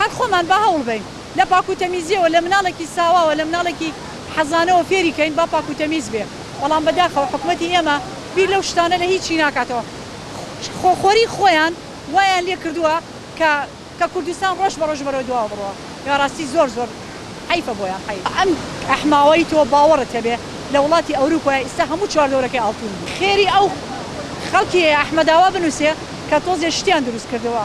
هەر خۆمان با هەوڵ بەین لە پاک و تەمیزیەوە لە مناڵێکی ساواوە لە مناڵێکی حەزانەوە فێری کەین با پاک و تەمیز بێ بەڵام بەداخەوە حکومەتی ئێمە بیر لەو شتانە لە هیچی ناکاتەوە خۆ خۆری خۆیان وایان لێ کردوە کە کە کوردستان ڕۆژ بە ڕۆژ بەرەو دواوە بڕوا بە ڕاستی زۆر زۆر حەیفە بۆیان حەیف. ئەم ئەحماوەی تۆ باوەڕت هەبێ لە وڵاتی ئەوروپایە ئیستا هەموو چواردەورەکەی ئاڵتون بوو خێری ئەو خەڵکی ئەحمەداوا بنوسێ کە تۆزێ شتیان دروست کردوە.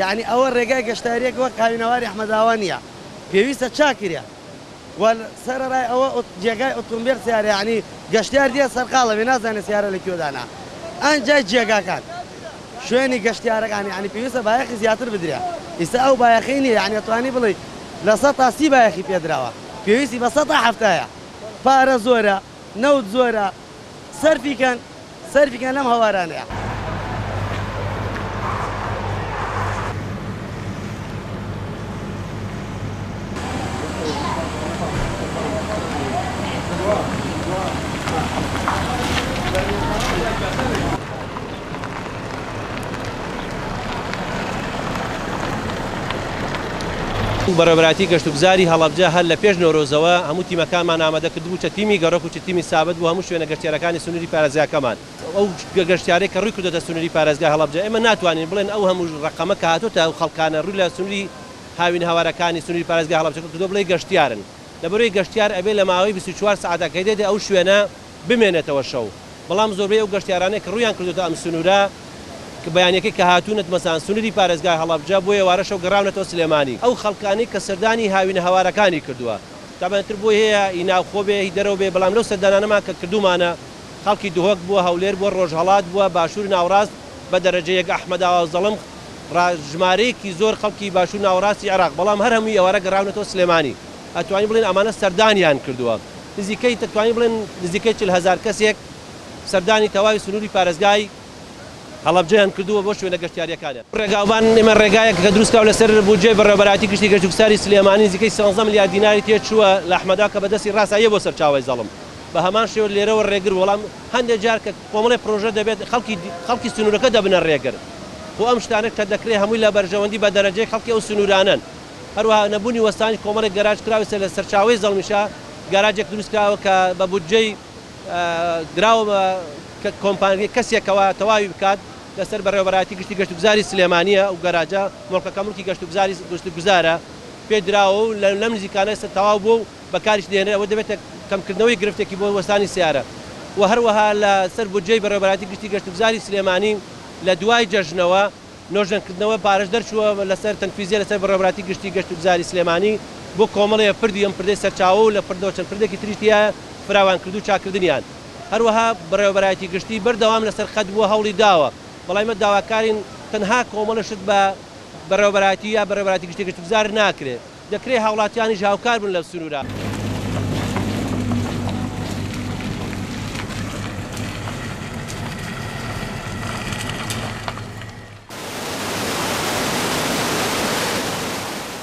یەعنی ئەوە رێگای گەشتاریەک وەک هاوینەواری ئەحمەداوا نیە پێویستە چاکرێ وە سەرەرای ئەوە جێگای ئۆتۆمبێل سیارە یەعنی گەشتیار دێ سەرقاڵە بێ نازانێ سیارە لە کوێدانە ئان جای جێگاکان شوێنی گەشتیارەکان یەعنی پێویستە بایەخی زیاتر بدرێ ئیستا ئەو بایەخەی نیە یەعنی ئەتوانی بڵێی لە سەتا سی بایەخی پێدراوە پێویستی بە سەتا حەفتایە پارە زۆرە. نەوت زۆرە سەرفی کەن سەرفی کەن لەم هەوارانەیا. بەڕێوەبەرایەتی گەشتوگوزاری هەڵەبجە هەر لە پێش نەورۆزەوە هەموو تیمەکانمان ئامادە کردبوو، چ تیمی گەڕۆک و چ تیمی سابت بۆ هەموو شوێنە گەشتیارەکانی سنووری پارێزگاکەمان. ئەو گەشتیارەی کە ڕووی کردۆتە سنووری پارێزگای هەڵەبجە ئێمە ناتوانین بڵێن ئەو هەموو ڕەقەمە کە هاتۆتە ئەو خەڵکانە ڕووی لە سنووری هاوینهەوارەکانی سنووری پارێزگای هەڵەبجە کردووە بڵێی گەشتیارن لەبەرئەوەی گەشتیار ئەبێ لە ماوەی بیست و چوار سەعاتە کە دێتە ئەو شوێنە بمێنێتەوە شەو، بەڵام زۆربەی ئەو گەشتیارانەی کە ڕوویان کردۆتە ئەم سنوورە کە بەیانیەکەی کە هاتوونە دمەزان سنووری پارێزگای هەڵەبجە بۆ ئێوارە شەو گەڕاونەتەوە سلێمانی. ئەو خەڵکانەی کە سەردانی هاوینە هەوارەکانی کردووە تابان تر بۆی هەیە هی ناوخۆ بێ هی دەرەوە بێ بەڵام لەو سەردانانەمان کە کردوومانە خەڵکی دهۆک بووە هەولێر بووە ڕۆژهەڵات بووە باشوور ناوەڕاست بە دەرەجە یەک ئەحمەداوا و زەڵم ڕا ژمارەیەکی زۆر خەڵکی باشوور ناوەڕاستی عێراق بەڵام هەر هەمووی ئێوارە گەڕاونەتەوە سلێمانی. ئەتوانین بڵێین ئەمانە سەردانیان کردووە، نزیکەی دەتوانین بڵێن نزیکەی چل هەزار کەسێک سەردانی تەواوی سنووری پارێزگای هەڵەبجەیان کردووە بۆ شوێنە گەشتیارییەکانیان. ڕێگاوبان، ئێمە ڕێگایەک کە دروست کراوە لەسەر بودجەی بەڕێوەبەرایەتی گشتی گەشت و گوستاری سلێمانی نزیکەی سیانزە ملیار دیناری تێ چووە لە ئەحمەدا کە بە دەستی ڕاستە یە بۆ سەرچاوەی زەڵم بە هەمان شێوە لێرەوە ڕێگر بوو بەڵام هەندێ جار کە کۆمەڵێ پرۆژە دەبێت خەڵکی خەڵکی سنوورەکە دەبنە ڕێگر خۆ ئەم شتانە کە دەکرێت هەمووی لە بەرژەوەندی بە دەرەجەی خەڵکی ئەو سنوورانەن. هەروەها نەبوونی وەستانی کۆمەڵێک گەراج کراوسێ لە سەرچاوەی زەڵمیشا گەراجێک دروست کراوە کە بە بودجەی دراوە بە کۆمپانیای کەسێکەوە تەواوی بکات لەسەر بەڕێوەبەرایەتی گشتی گەشتوگوزاری سلێمانیە ئەو گەراجە مڵکەکە مڵکی گەشتوگوزاری گەشتوگوزارە پێ دراوە و لەم نزیکانە ئێستا تەواو بووە و بەکاریش دێنێ ئەوە دەبێتە کەمکردنەوەی گرفتێکی بۆ وەستانی سەیارە و هەروەها لەسەر بودجەی بەڕێوەبەرایەتی گشتی گەشتوگوزاری سلێمانی لە دوای جەژنەوە نۆژەنکردنەوە بارەش دەرچووە لەسەر تەنفیزیە لەسەر بەڕێوەبەرایەتی گشتی گەشتوگوزاری سلێمانی بۆ کۆمەڵێ پردی ئەم پردەی سەرچاوە و لە پردەوە چەند پردێکی تریش تیایە فراوانکردو چاککردنیان هەروەها بەڕێوەبەرایەتی گشتی بەردەوام لەسەر خەت بووە هەوڵی داوە بەڵام ئیمە داواکارین تەنها کۆمەڵە شت بە بەڕێوەبەرایەتی یا بەڕێوەبەرایەتی گشتی گەشتوگوزار ناکرێ. دەکرێت هاوڵاتیانیش هاوکار بن لە سنوورە.